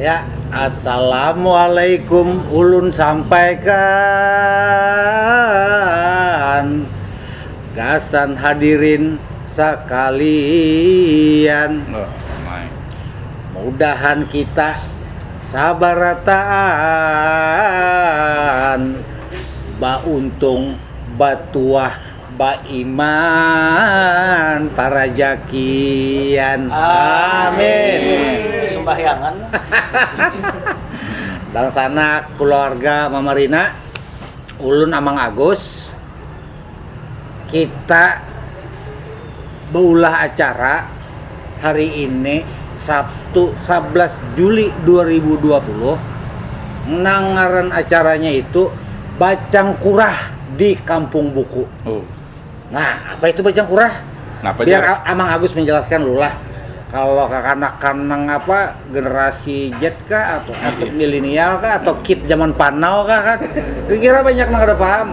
Ya, Assalamualaikum ulun sampaikan gasan hadirin sakalian. Mudahan kita sabarataan bauntung batuah Baiman parajakian amin sumbahyang dangsanak keluarga mamarina ulun amang agus kita beulah acara. Hari ini, Sabtu sablas Juli dua ribu dua puluh, nang ngaran acaranya itu Bacangkurah di Kampung Buku. Nah, apa itu Bacangkurah? Napa Biar jar? A- Amang Agus menjelaskan dulu lah. Kalau kakanakan nang apa, generasi Z kah, atau atau milenial kah, atau kid zaman panau kah kan? Kukira banyak nang kada paham.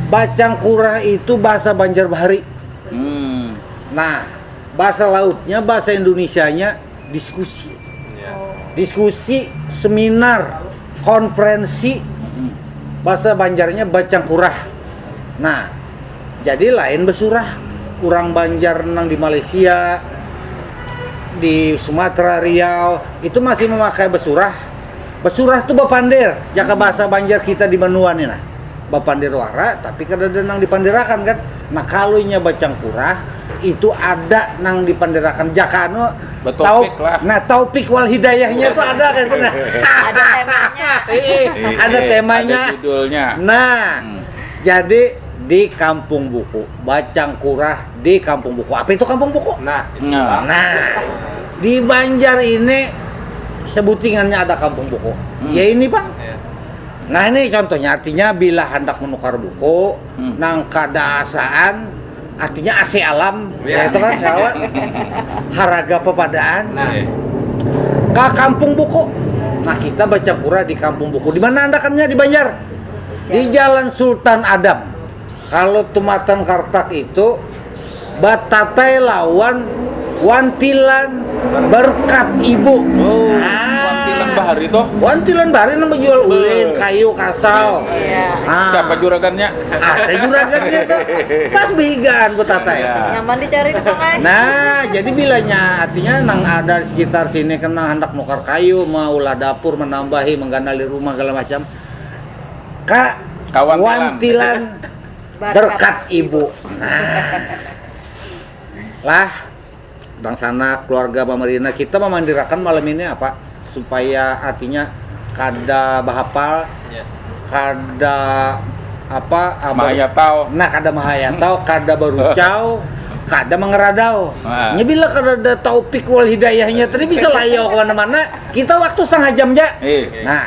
Bacangkurah itu bahasa Banjar bahari. Nah, basa lautnya, basa Indunisianya diskusi. Diskusi, seminar, konferensi, basa Banjarnya bacangkurah. Nah, jadi lain besurah. Urang Banjar nang di Malaysia, di Sumatera, Riau, itu masih mamakai besurah. Besurah tu bepander, jaka basa Banjar kita di banua ni nah. bapandir wara tapi kadada nang dipandirakan kan nah kalu inya bacangkurah itu ada nang dipandirakan jaka anu taufik lah nah taufik wal hidayahnya itu ada kan itu nah ada temanya ada temanya ada judulnya nah hmm. jadi di kampung buku bacangkurah di kampung buku apa itu kampung buku nah nah, nah di Banjar ini sebutingannya ada kampung buku hmm. ya ini bang ya. Nah ini contohnya artinya bila handak menukar buku hmm. nang kada asaan artinya AC alam ya, ya itu kan kawan haraga pepadaan nah. ke kampung buku nah kita baca kura di kampung buku di mana anda kannya di Banjar di Jalan Sultan Adam Kalo tumatan kartak itu batatai lawan wantilan berkat ibu. Oh, ah. wantilan bahari tuh. Wantilan bahari nang menjual ulin, kayu, kasau. Yeah. Ah. Siapa juragannya? Ada juragannya tuh. Pas behigaan betatai. Yeah. Iya. Nyaman dicari tuh kan. Nah, jadi bilanya artinya nang ada di sekitar sini kena hendak nukar kayu, maulah dapur, menambahi, mengganali rumah segala macam. ka wantilan berkat ibu nah lah bangsana keluarga pamarina kita mamandirakan malam ini apa supaya artinya kada bahapal kada apa nah kada mahayatau kada barucau kada mangeradau nya bila kadada taufik wal hidayahnya tadi bisa layau kemana-mana kita waktu setengah jam ja nah.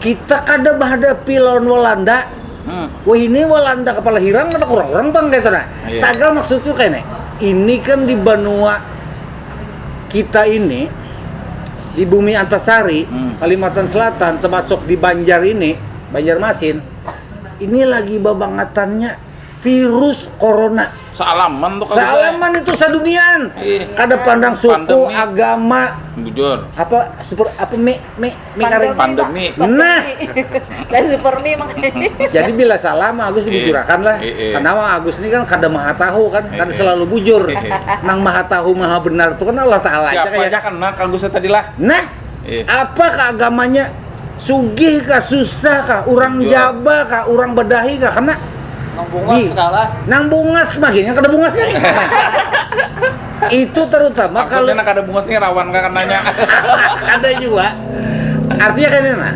Kita kada bahadapi lawan Walanda, wahini Walanda kapala hirang kada kurang-kurang pang kaytu nah. Tagal maksudku kayni, ini kan di banua kita ini, di Bumi Antasari, Kalimantan Selatan, tamasuk di Banjar ini, Banjarmasin, ini lagi babangatannya. virus corona Sealaman tuh kali Bay. sealaman itu saduniaan Ih. kada pandang suku Pandemi. agama Bujur. apa super apa mi mi mi karing Pandemi. Nah. Dan super mie makanya. jadi bila salah mah Agus dibujurakan lah Eh, eh. karena Mang Agus ini kan kada maha tahu kan kan Eh, eh. selalu bujur Eh, eh. nang maha tahu maha benar itu kan Allah Taala aja Siapa kaya aja kena kagusnya tadi lah. nah Iya. Apakah agamanya? Sugih kah, susah kah, orang Jual. jaba kah, orang badahi kah, kena Nang bungas Di- kalah. nang bungas makinnya kada bungas kan itu terutama kalau Maksudnya nak ada bungas nih rawan kah kenanya. ada juga artinya kan nah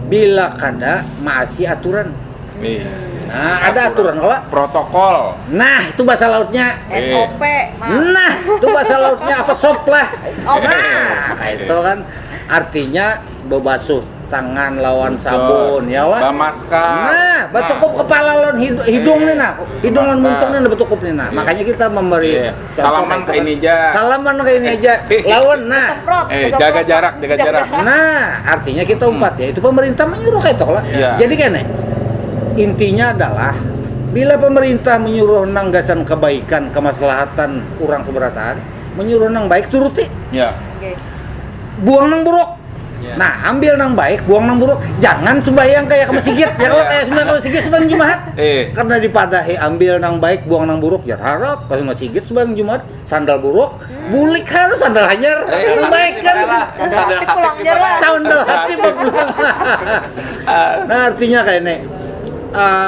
bila kada maasi aturan Iya. Nah, ada aturan kalau protokol. Nah, itu bahasa lautnya SOP. Nah, itu bahasa lautnya apa sop lah. Oh, nah, nah, itu kan artinya bebasuh tangan lawan sabun ya wah bamaska nah betukup nah. kepala lawan hidung, hidung nih nah hidung lawan muntung nih betukup nih nah iya. makanya kita memberi yeah. Salaman kayak ini aja. Salaman kayak ini aja. Lawan nah. Eh, jaga jarak, jaga jarak. Nah, artinya kita hmm. umpat hmm. ya. Itu pemerintah menyuruh kayak lah. Yeah. Jadi kan intinya adalah bila pemerintah menyuruh nang gasan kebaikan, kemaslahatan orang seberataan, menyuruh nang baik turuti. Ya. Yeah. Okay. buang nang buruk iya. nah ambil nang baik buang nang buruk jangan sembahyang kayak ke masjid ya kalau iya. kayak sembahyang ke masjid sembahyang jumat eh. karena dipadahi ambil nang baik buang nang buruk jangan harap kalau masjid sembahyang jumat sandal buruk hmm. bulik harus sandal hanyar eh, iya. nang baik kan sandal hati pulang sandal hati pulang nah artinya kayak ini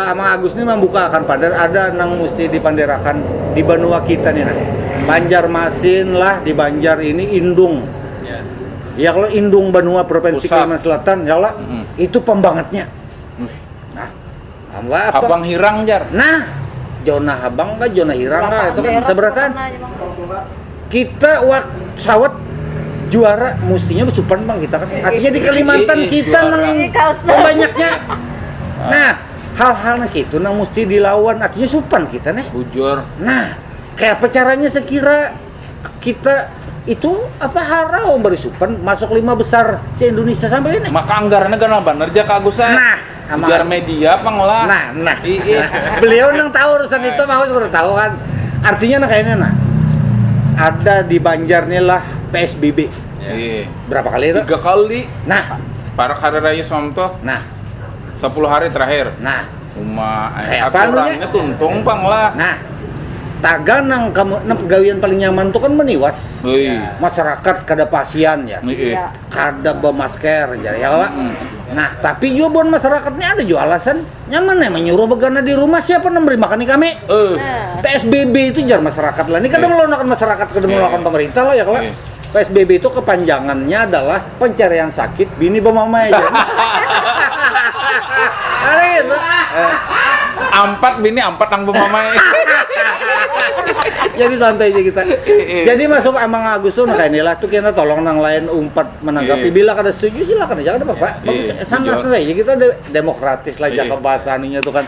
Amang Agus ni mambuka akan pader ada nang musti dipanderakan di banua kita ni nah. Banjarmasin lah di Banjar ini indung ya kalo indung banua provinsi Kalimantan Selatan ya kalo itu pambangatnya nah Habang Hirang jar nah zona habang kah zona hirang kah itu kan sabarataan. kita wak sawat juara mustinya besupan bang kita kan artinya di Kalimantan Ih, kita juara. nang Ih, kau se- banyaknya nah hal-hal nah gitu nang mesti dilawan artinya supan kita nih Bujur. nah kayak apa caranya sekira kita itu apa harau baru supan masuk lima besar se Indonesia sampai ini Maka anggarannya ganal banar ja Kak Agus. eh. Nah, Ujar media pang lah. Nah, nah. Iya. Beliau nang tahu urusan itu mah sudah tahu kan. Artinya nah kayaknya nah. Ada di Banjar nih lah PSBB. Iya. Berapa kali itu? Tiga kali. Nah, Para hari raya Islam tuh nah, 10 hari terakhir. nah, Uma eh, Kayak apa anunya? aturannya tuntung pang lah. nah. Taga nang kamu nang pegawaian paling nyaman tuh kan meniwas. Wih. Masyarakat kada pasian ya. Iya. Iya. kada bamasker jar ya kalo mm. nah tapi jua buan masyarakat ni ada jua alasan nyaman nih menyuruh begana di rumah siapa yang memberi makan kami uh. Nah. PSBB itu jar masyarakat lah ini kadang yeah. melawan masyarakat kadang yeah. melawan pemerintah lah ya kalo yeah. PSBB itu kepanjangannya adalah pencarian sakit bini bemamai Ada gitu. Eh, ampat bini ampat nang pemamai. Jadi santai aja kita. Iya. Jadi masuk emang Agus tuh nah kayak inilah tuh kena tolong nang lain umpat menanggapi Iya. bila kada setuju silakan aja kada apa-apa. Iya. Bagus Iya. sana Setuju. santai aja kita de- demokratis lah Iya. jaga bahasa aninya tuh kan.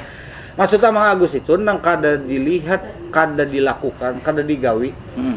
Maksudnya Mang Agus itu nang kada dilihat, kada dilakukan, kada digawi. Mm.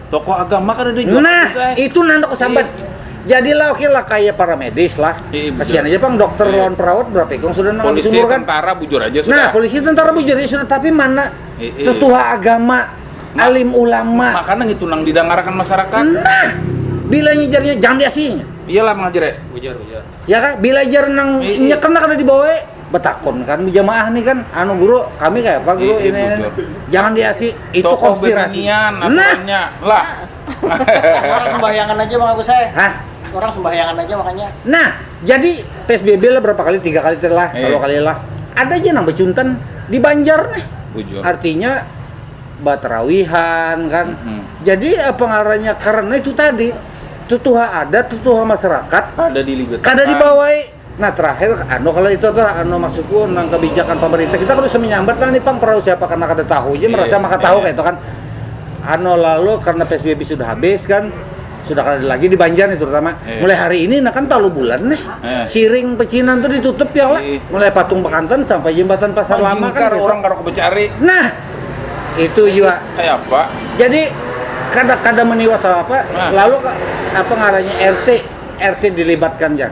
Tokoh agama kada ada jua. Nah, itu nah handak kusambat. Iya. Jadilah oke lah kayak para medis lah. Iya, Kasihan aja pang dokter iya. lawan perawat berapa ikung sudah nang habis umur kan. tentara bujur aja nah, sudah. Nah, polisi tentara bujur aja sudah tapi mana iya. tetua agama, Ma alim ulama. Makanan itu nang didengarkan masyarakat. Nah, bila nyejarnya jangan diasinya. Iyalah mengajar ya. Bujur, bujur. Ya kan, bila jar nang iya, iya. nyekena kada dibawa. betakun kan jamaah nih kan anu guru kami kayak apa guru ini, ini. jangan diasi itu Tokoh konspirasi bebinian nah aturannya. Lah. Orang sembahyangan aja bang aku saya. hah Orang sembahyangan aja makanya. nah jadi psbb lah berapa kali tiga kali lah Eh. kalau kali lah ada aja nang becuntan di Banjar nih Bujur. artinya baterawihan kan Mm-mm. jadi eh, pengaruhnya karena itu tadi tutuha adat tutuha masyarakat Kada dilibatkan. kada dibawai Nah terakhir anu kalo itu tuh anu maksudku nang kebijakan pemerintah kita kada usah menyambat lah nih pang perahu siapa karena kada tahu ja merasa maka tahu kaya itu kan anu lalu karena psbb sudah habis kan sudah kada lagi di banjar nih terutama mulai hari ini nah kan talu bulan nih siring pecinan tuh ditutup ya kalo mulai patung bekantan sampai jembatan pasar lama kan gitu nah itu jua jadi kada kada meniwas apa apa lalu apa ngarannya rt rt dilibatkan ja.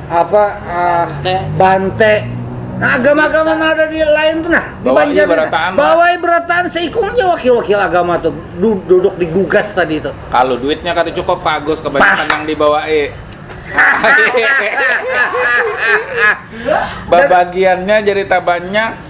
apa uh, bante. bante Nah agama-agama nah, ada di lain tuh nah di Banjar berataan bawai berataan seikungnya wakil-wakil agama tuh duduk di gugas tadi itu. Kalau duitnya kata cukup Pak Agus kebanyakan yang dibawa eh. Babagiannya jadi tak banyak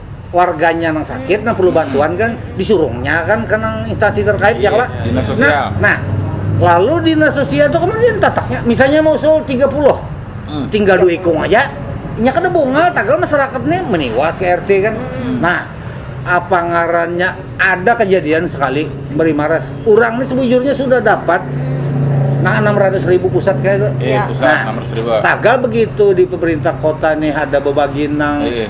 warganya nang sakit nang perlu bantuan kan disuruhnya kan ke nang instansi terkait ya lah. Iya, Dinas sosial. Nah, nah, lalu dinas sosial itu kemudian tataknya misalnya mau usul 30 Hmm. tinggal dua ikung aja nya kada bungal tagal masyarakat nih meniwas ke RT kan Hmm. nah apa ngarannya ada kejadian sekali beri maras orang nih sebujurnya sudah dapat nah 600 ribu pusat kayak itu Eh, Iya. pusat Nah, nomor seribu. tagal begitu di pemerintah kota nih ada bebagi nang Eh, eh.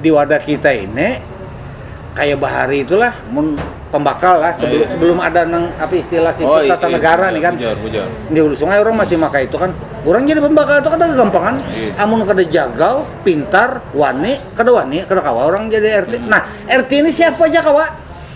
di wadah kita ini kayak bahari itulah mun pembakal lah sebelum, iya. sebelum ada nang apa istilah sistem oh, iya, tata iya, negara iya, nih kan bujar, bujar. di hulu sungai orang masih maka itu kan orang jadi pembakal itu kan ada kegampangan iya. amun kada jagal pintar wani kada wani kada kawa orang jadi RT hmm. nah RT ini siapa aja kawa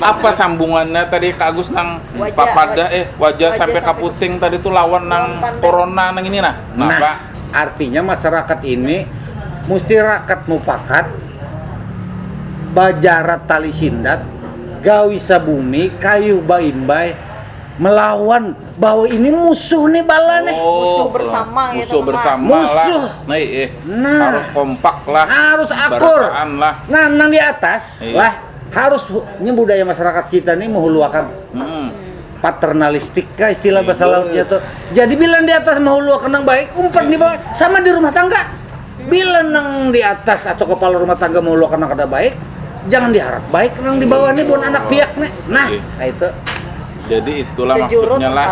Apa sambungannya tadi Kak Agus nang wajah, papada eh wajah, wajah sampai kaputing tadi tuh lawan nang corona nang ini nah. Nah, apa? artinya masyarakat ini mesti rakat mupakat bajarat tali sindat gawi sabumi kayuh baimbai melawan bahwa ini musuh nih bala nih. Oh, musuh bersama gitu, musuh gitu, bersama musuh. lah. Nah, eh, nah, harus kompak lah. Harus akur. Lah. Nah, nang di atas eh. lah Harus nya budaya masyarakat kita nih mehuluakan hmm. paternalistik kah istilah bahasa iya, lautnya tuh. Jadi bila di atas mehuluakan yang baik, umpan di bawah sama di rumah tangga. Bila nang di atas atau kepala rumah tangga mehuluakan yang kada baik, jangan diharap baik nang di bawah nih bukan anak piak nih. Nah, iya. nah itu jadi itulah Sejurut maksudnya lah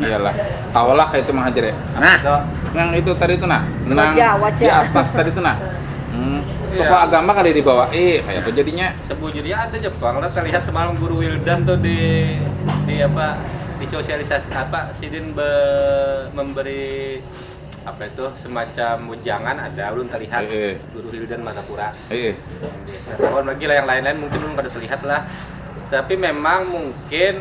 iyalah tahulah kayak itu menghajar ya nah itu, yang itu tadi itu nah nang wajah, wajah. di atas tadi itu nah Hmm, iya. tokoh agama kada dibawa eh kayak apa jadinya? Sebujurnya ada aja pang lah terlihat semalam guru Wildan tuh di di apa di sosialisasi apa sidin be, memberi apa itu semacam jangan ada belum terlihat e -e. guru Hildan Martapura e -e. Nah, lagi lah yang lain-lain mungkin belum pada terlihat lah tapi memang mungkin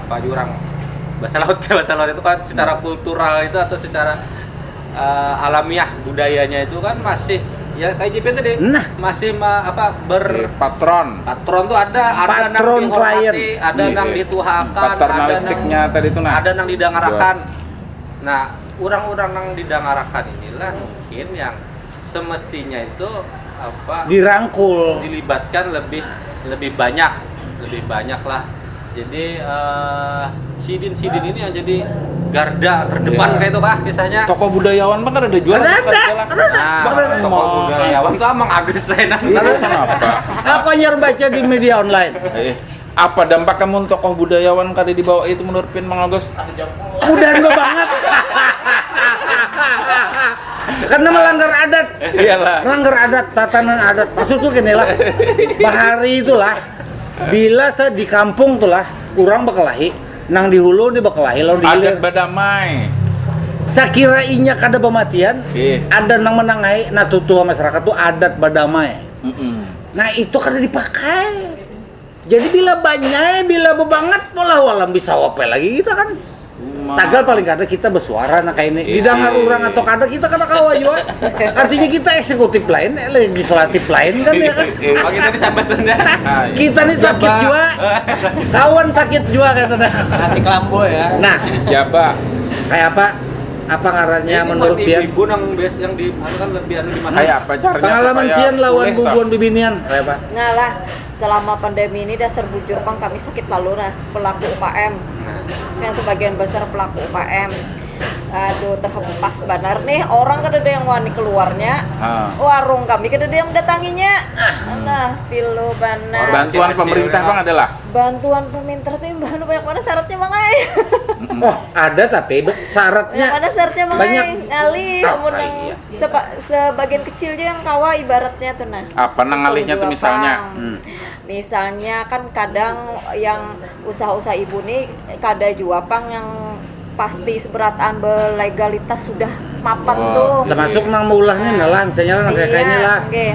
apa jurang bahasa laut bahasa laut itu kan secara hmm. kultural itu atau secara uh, alamiah budayanya itu kan masih ya kayak JP tadi nah. masih ma, apa ber eh, patron patron tuh ada ada patron nang klien ada nang iya. dituhakan paternalistiknya ada nang, tadi itu nah ada nang didangarakan nah orang-orang nang didangarakan inilah mungkin yang semestinya itu apa dirangkul dilibatkan lebih lebih banyak lebih banyak lah jadi uh, sidin-sidin ini yang jadi garda terdepan yeah. kayak itu kah kisahnya toko budayawan bang ada jual ada ada nah, toko budayawan tuh emang agak saya nang kenapa aku hanya baca di media online eh. Apa dampaknya mun tokoh budayawan kada dibawa itu menurut pian Mang Agus? Mudahan babangat. Karena melanggar adat. Iyalah. Melanggar adat, tatanan adat. Maksudku ginilah. Bahari itulah bila sa di kampung tulah urang bakelahi, nang di hulu ni bakelahi lawan di hilir. Adat badamai. Sakira inya kada bamatian, Ih. ada nang manangahi, nah tutuha masyarakat tu adat badamai. Mm-mm. Nah itu kada dipakai. Jadi bila banyai, bila bebangat, walau alam bisa wapai lagi kita kan. Tagal paling kada kita besuara nah kaini. Iya. Didangar urang atau kada kita kada kawa jua. Artinya kita eksekutif lain, eh, legislatif lain kan ya kan. Oh, kita di sambat Sunda. Ah, iya. Kita nih sakit Jabak. jua. Kawan sakit jua kata dah. Hati kelambo ya. Nah, Jabak. kayak apa? Apa ngarannya Ini menurut buat pian? ibu-ibu nang bias yang di anu kan lebih anu di mana? Kayak apa caranya Pengalaman supaya pian lawan pulih, bubuan bibinian, kayak apa? Ngalah. selama pandemi ini dasar bujur pang kami sakit lalu nah pelaku UKM nah. yang sebagian besar pelaku UKM aduh terhempas banar nih orang kada ada yang wani keluarnya ah. warung kami kada ada yang mendatanginya nah, nah pilu banar bantuan pemerintah bang adalah bantuan pemerintah tuh imbang banyak mana syaratnya bang ay oh ada tapi syaratnya banyak mana syaratnya bang banyak ngalih ah, iya. sebagian kecil ja yang kawa ibaratnya tu nah apa nang ngalihnya tu misalnya hmm. misalnya kan kadang yang usaha-usaha ibu ni kada jua pang yang pasti seberataan belegalitas sudah mapan oh, tuh termasuk nang meulahnya nah, lah misalnya nang kayak iya, ini lah okay.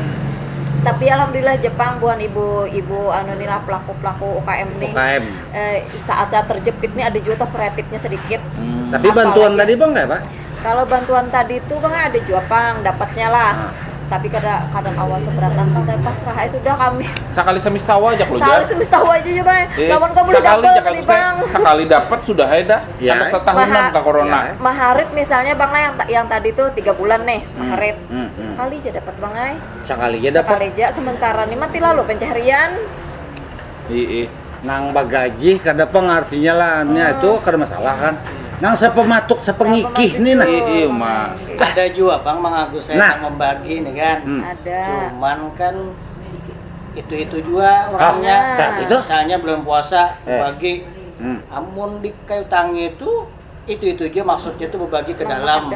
tapi alhamdulillah Jepang buhan ibu-ibu anu ni lah pelaku-pelaku UKM ni UKM. Eh, saat-saat terjepit ni ada juga tuh kreatifnya sedikit hmm. tapi bantuan tadi bang nggak pak Kalau bantuan tadi tu pang ada jua pang dapatnya lah. Ah. Tapi kada kada kawa seberatan pang tapi pasrah ai sudah kami. Sakali semis tawa aja keluar. Sakali semis tawa aja ya bang. Eh, Lawan kau boleh dapat tadi bang. Sekali dapat sudah hai dah. Ya. Karena setahunan ke corona. Ya. Maharit misalnya bang lah yang yang tadi tuh tiga bulan nih hmm, maharit. Hmm, hmm. Sekali aja dapat bang ai. Sekali aja dapat. Sekali aja sementara nih mati lalu pencaharian. Iih. Nang bagajih kada pang artinya lah nya itu kada masalah kan. Nang sapamatuk sapangikih ni nah. Iih uma. Ada jua pang mang Agus ai nang mambagi ni kan. Cuman kan itu itu jua orangnya. Misalnya bulan puasa bagi amun di kayu tangi tu. Itu itu aja maksudnya tuh berbagi ke dalam,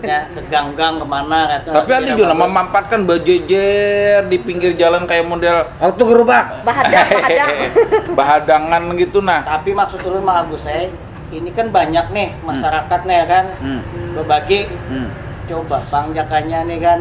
ya, ke gang-gang kemana kata. Tapi ada juga nama mampatkan bajejer di pinggir jalan kayak model auto gerobak, bahadang, bahadang. bahadangan gitu nah. Tapi maksud ulun Mang Agus eh, ini kan banyak nih hmm. masyarakat hmm. nih ya kan hmm. berbagi. Hmm. Coba Bang Jakanya nih kan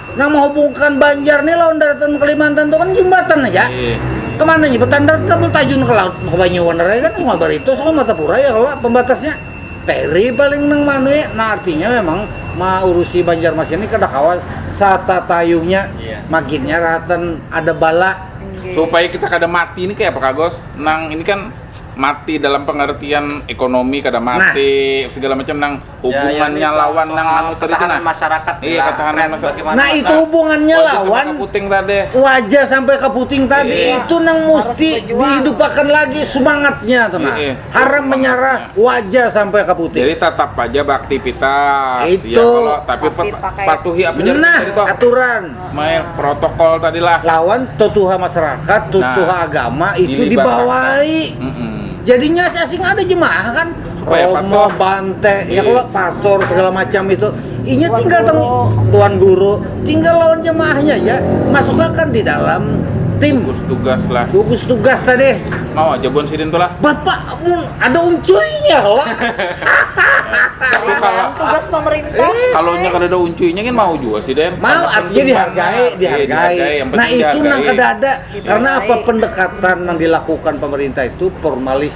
nang menghubungkan Banjar nih lawan daratan Kalimantan tuh kan jembatan aja. Iya. Kemana nih? Betandar tetap tajun ke laut ke Banyu kan semua baritu sama Matapura ya kalau pembatasnya peri paling nang manui ya. nah artinya memang mengurusi Banjarmasin ini kada kawa satatayuhnya iya. maginnya rahatan ada bala okay. supaya kita kada mati ini kayak apa kagos nang ini kan mati dalam pengertian ekonomi kada nah. mati nah. segala macam nang hubungannya lawan nang anu tadi tu nah masyarakat iya ketahanan masyarakat nah itu hubungannya lawan puting tadi waja sampai ke puting tadi iya. itu nang mesti dihidupakan lagi iya. semangatnya tuh nah iya. haram menyerah iya. waja sampai ke puting jadi tetap aja beraktivitas ya itu ya, kalau, tapi, tapi pakai... patuhi apa nah, itu aturan main protokol tadi lah lawan tutuha masyarakat tutuha nah, agama itu dibawahi mm -mm. jadinya asing ada jemaah kan apa ya Romo, patok bante, ya iya. kalau pastor segala macam itu, inya Tuan tinggal terus tuan guru, tinggal lawan jemaahnya ya, masukkan di dalam tim gugus tugas lah gugus tugas tadi mau aja bon sidin tuh lah bapak mun ada uncuinya lah kalau tugas pemerintah eh, kalau nya kada ada uncuinya kan mau juga sih den mau artinya dihargai iya, dihargai, dihargai. nah itu nang kada ada karena apa pendekatan yang dilakukan pemerintah itu formalis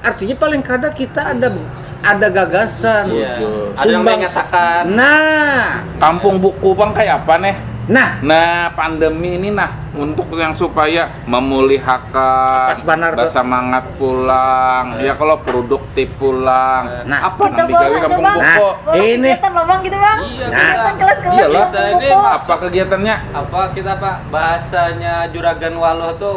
artinya paling kada kita ada ada gagasan Iya. Ada yang Sumbang- mengatakan nah Kampung buku pang kaya apa neh? nah Nah, pandemi ini nah untuk yang supaya memulihakan, Pas banar tuh. bersemangat pulang, ya kalau produktif pulang. Nah. apa Kita nang digawe bawa kampung aja, Bang. buku? Nah. Bawa Ini. kegiatan loh bang gitu bang. Iya, Nah. Kegiatan kelas-kelas Iyalah. kampung Kita ini buku. mah- Apa kegiatannya? apa kita pak bahasanya juragan waluh tuh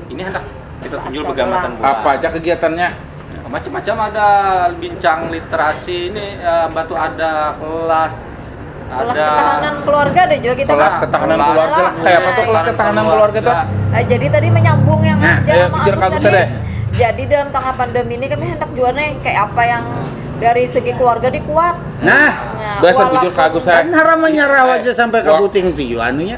Ini handak kita tunjul begamatan buhan. Apa aja kegiatannya? Macam-macam ada bincang literasi ini uh, batu ada kelas kelas ada ketahanan keluarga ada juga kita kelas ketahanan kelas, keluarga kelas, kayak apa tuh kelas ketahanan keluarga, tuh nah, jadi tadi menyambung yang nah, aja sama Agus tadi deh. jadi dalam tengah pandemi ini kami hendak juga nih kayak apa yang dari segi keluarga dikuat nah, nah biasa bujur kagus saya kan haramannya rawa aja sampai ke buting tuh anunya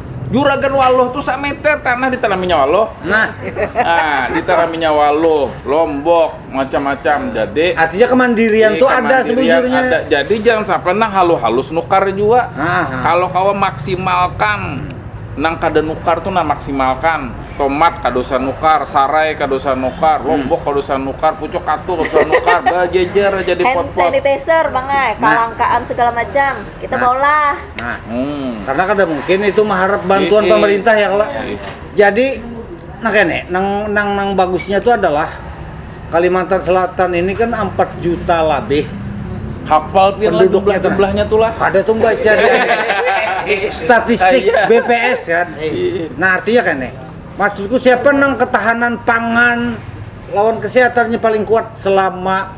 Juragan Waluh tuh sameter tanah ditanaminya Waluh. Nah. ah, ditanaminya Waluh, Lombok, macam-macam. Jadi artinya kemandirian tuh ada sebujurnya. Ada. Jadi jangan sampai nang halus-halus nukar juga. Kalau kau maksimalkan nang kada nukar tuh nang maksimalkan tomat kada usah nukar sarai kada usah nukar hmm. lombok kada usah nukar pucuk katu kada usah nukar bajejer jadi pot pot hand sanitizer bang eh, nah. kalangkaan segala macam Kita Nah. maulah. Nah, Hmm. karena kada mungkin itu maharap bantuan Ii. pemerintah ya kala. Ii. Jadi nah kene, nang nang nang bagusnya itu adalah Kalimantan Selatan ini kan 4 juta labih. Hafal pian lah Penduduknya jumlah tuh. jumlahnya tuh lah. Ada tuh baca di statistik Iya. BPS kan. Iya. Nah artinya kan nih, maksudku siapa nang ketahanan pangan lawan kesehatannya paling kuat selama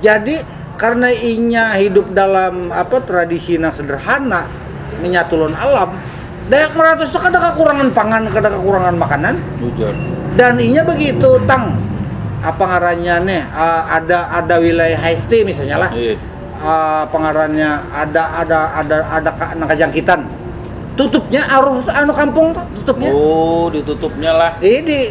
Jadi, karna inya hidup dalam apa tradisi nang sederhana, menyatu lawan alam, Dayak Meratus tu kada kakurangan pangan, kada kakurangan makanan. Ujar. Dan inya begitu tang apa ngarannya nih uh, ada ada wilayah HST misalnya lah. Iya. Uh, pengarannya ada ada ada ada ka- nang kajangkitan. Tutupnya aruh anu kampung tuh tutupnya. Oh, ditutupnya lah. Ini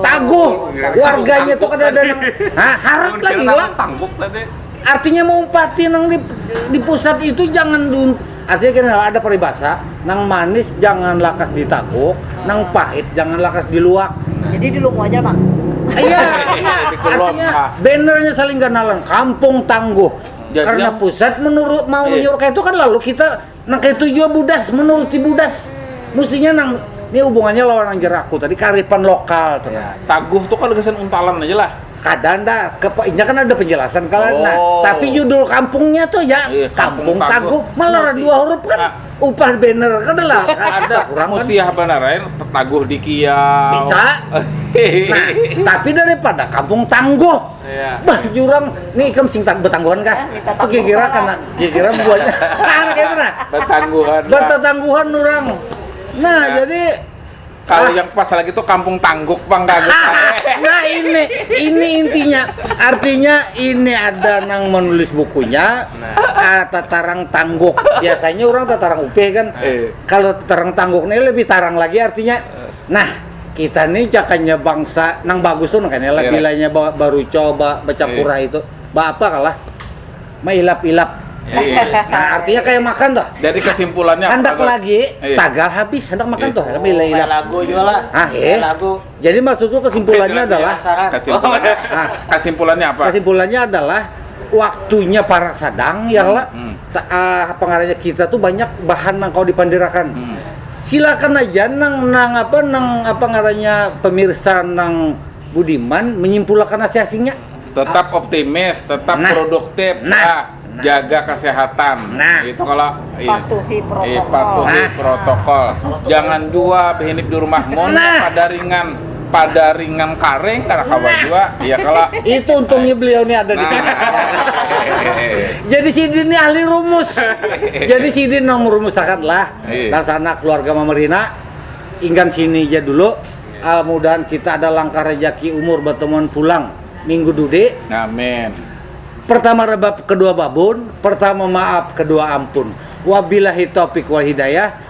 taguh warganya tuh kada ada nang ah, harat lagi lah artinya mau umpati nang di, di pusat itu jangan dun artinya kena ada peribahasa nang manis jangan lakas ditaguk nang pahit jangan lakas diluak jadi di lumu aja bang iya artinya ah. bannernya saling ganalan kampung tangguh Jadi karena pusat menurut mau iya. nyuruh itu kan lalu kita Nang kaitu jua budas, menuruti budas mustinya nang ni hubungannya lawan nang jar aku tadi kearifan lokal tu nah. Taguh tu kada gasan untalan aja lah. Kada anda, inya kan ada penjelasan kah lah nah. Tapi judul kampungnya tu ja, Kampung Taguh, malah dua huruf kan upah banner kada lah. Ada kurang kan. Musiah banar ain taguh dikiau. Bisa. Nah, tapi daripada kampung tangguh. Yeah. Bah jurang nih ikam sing tak betangguhan kah? Eh, Tuh kira-kira karena kira-kira buahnya anak itu nah. Betangguhan. Betangguhan orang. Nah, nah, jadi kalau ah. yang pas lagi tuh kampung tangguk bang kaget. Ah, nah ini ini intinya artinya ini ada nang menulis bukunya nah. ah, tatarang tangguk biasanya orang tatarang upe kan eh. kalau tatarang tangguk ini lebih tarang lagi artinya nah kita ni jakanya bangsa nang bagus tu nang kanilah Iya. bilanya ba, baruco ba, bacapura itu ba apa kalah mailap-ilap Iya. nah artinya kaya makan tuh Jadi kesimpulannya apa, handak Bang? lagi Iya. tagal habis handak makan Iya. tuh Oh, main mailap lagu juga lah. ah Main eh lagu. jadi maksudku kesimpulannya Oke, silakan. adalah Pasaran. Kesimpulannya, Ah. kesimpulannya apa? kesimpulannya adalah waktunya para sadang ya lah Hmm. apa ngarannya kita tuh banyak bahan nang kawa dipandirakan hmm. silakan aja nang nang apa nang apa ngarannya pemirsa nang budiman menyimpulakan nasi asingnya tetap ah. optimis tetap nah. produktif nah. Ah, nah. jaga kesehatan nah itu kalau iya. patuhi protokol, iya, patuhi nah. protokol. jangan jua behinip di rumah nah. pada ringan pada ringang karing karena kawa jua ya kala itu untungnya beliau nih ada di sini jadi sidin ini ahli rumus jadi sidin nang merumuskan lah dan sana keluarga mamarina inggan sini ja dulu uh, mudahan kita ada langkah rejaki umur bertemuan pulang minggu dudi amin pertama rebab kedua babun pertama maaf kedua ampun wabillahi topik wal hidayah